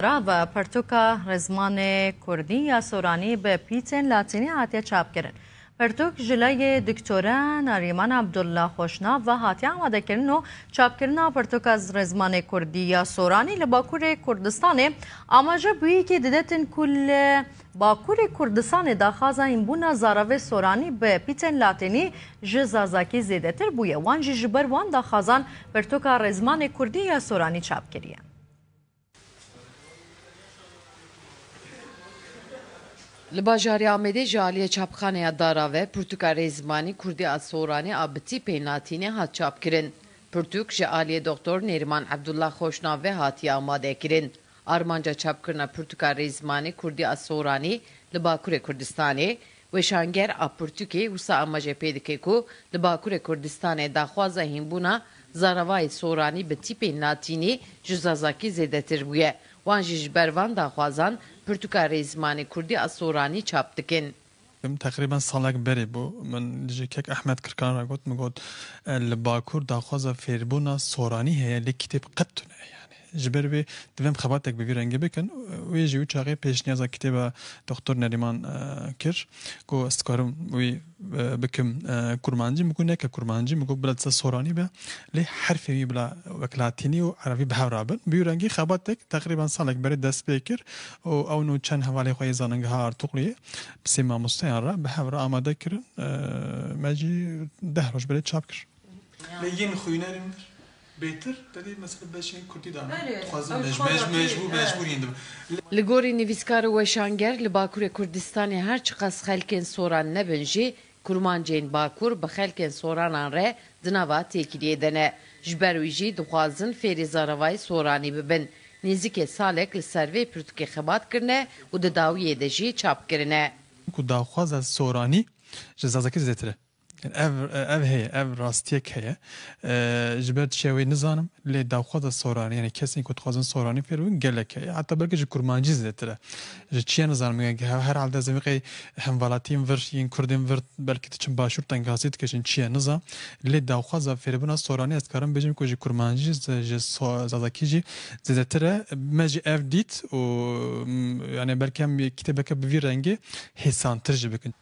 Rava, Pertûka Rizmanê Kurdî ya Soranî bi pîtên latînî hatiye çapkirin. Pertûk ji lajê Diktore Nerîman Abdullah Xoşnav ve hatiye amadekirin û çapkirina Pertûka Rizmanê Kurdî ya Soranî li Bakurê Kurdistanê amaje bûyîkê dide tin ku li Bakurê Kurdistanê daxwaza hînbûna zaravê soranî bi pîtên latînî ji zazakî zêdetir bûye wan jî ji ber wan daxwazan Pertûka Rizmanê Kurdî ya Soranî çapkiriye. Li bajarê Amedê ji aliyê çapxaneya Dara ve pirtûka Rêzmanî Kurdî a Soranî a bi tîpeyên latînê hat çapkirin. Pirtûk ji aliyê Doktor Nêrîman Ebdullah Xoşnav ve hatiye amadekirin. Armanca çapkirina pirtûka Rêzmanî Kurdî a Soranî li Bakurê Kurdistanê, Weşanger a pirtûkê wisa amajê pê dike ku li Bakurê Kurdistanê daxwaza hînbûna Zaravayê Soranî bi tîpên Latînî ji Zazakî zêdetir bûye. Wan jî ji ber van daxwazan pirtûka rê zimanê Kurdî a Soranî çap dikin. Teqrîben salek berê bû min ji kek Ehmed Kirkan re got, min got li Bakur daxwaza fêrbûna Soranî heye lê kîtêb qet tune ye yanî. Ji ber vê divem xebatek bi vî rengî bikin. Wê jî wî çaxê pêşniyaza kitêba Doktor Nerîman kir ku ez dikarim wî bikim kurmancî. Min got neke kurmancî, min got bila disa soranî be lê herfên wî bila wek latînî û erebî bi hev re bin. Bi wî rengî xebatek teqrîban salek berê dest pê kir û ew no çend hevalên xwe yê Zanîngeha Artukluyê bi sê mamosteyan re bi hev re amade kirin. Me jî deh roj berê çap kir. Lê yên xwînerên min bêtir tevî mesela beşên kurdî dane, dixwazin mecbûr mecbûr mecbûr yên dibin. Li gorî nivîskar û weşanger li Bakurê Kurdistanê her çiqas xelkên soran nebin jî kurmancên Bakur bi xelkên soranan re di nava têkiliyê de ne. Ji ber wî jî dixwazin fêrî zaravayê soranî bibin. Nêzîkê salek li ser vê pirtûkê xebat kirine û di dawiyê de jî çap kirine. Ku daxwaza soranî ji zazakî zêtir e. Ev ev heye, ev rastiyek heye. Ji ber çiya wê nizanim lê daxwaza soranî yanî kesên ku dixwazin soranî fêr bibin gelek heye. Heta belkî ji kurmancî zêtir e. Ji çiya nizanim gelek heye. Her halde ez ê biqey hemvelatiyên vir yên kurdên vir belkî diçin başûr tengasî dikeşin çiya nizam. Lê daxwaza fêrbûna soranî ez karim bêjim ku ji kurmancî ji zazakî jî zêdetir e. Me jî ev dît û yanî belkî em kîtêbeke bi vî rengê hêsantir jî bikin.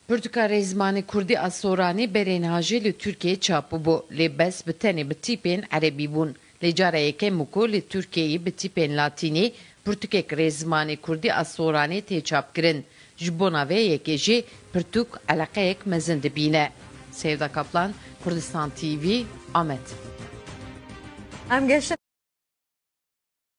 Pirtûka rê zimanê kurdî a Soranê berê niha jî li Tirkiyeyê çap bûbû lê bes bi tenê bi tîpên erebî bûn. Lê cara yekem bû ku li Tirkiyeyê bi tîpên latînî pirtûkek rê zimanê kurdî a Soranê tê çapkirin. Ji bona vê yekê jî pirtûk eleqeyek mezin dibîne. Sevda Kaplan, Kurdistan TV, Amed.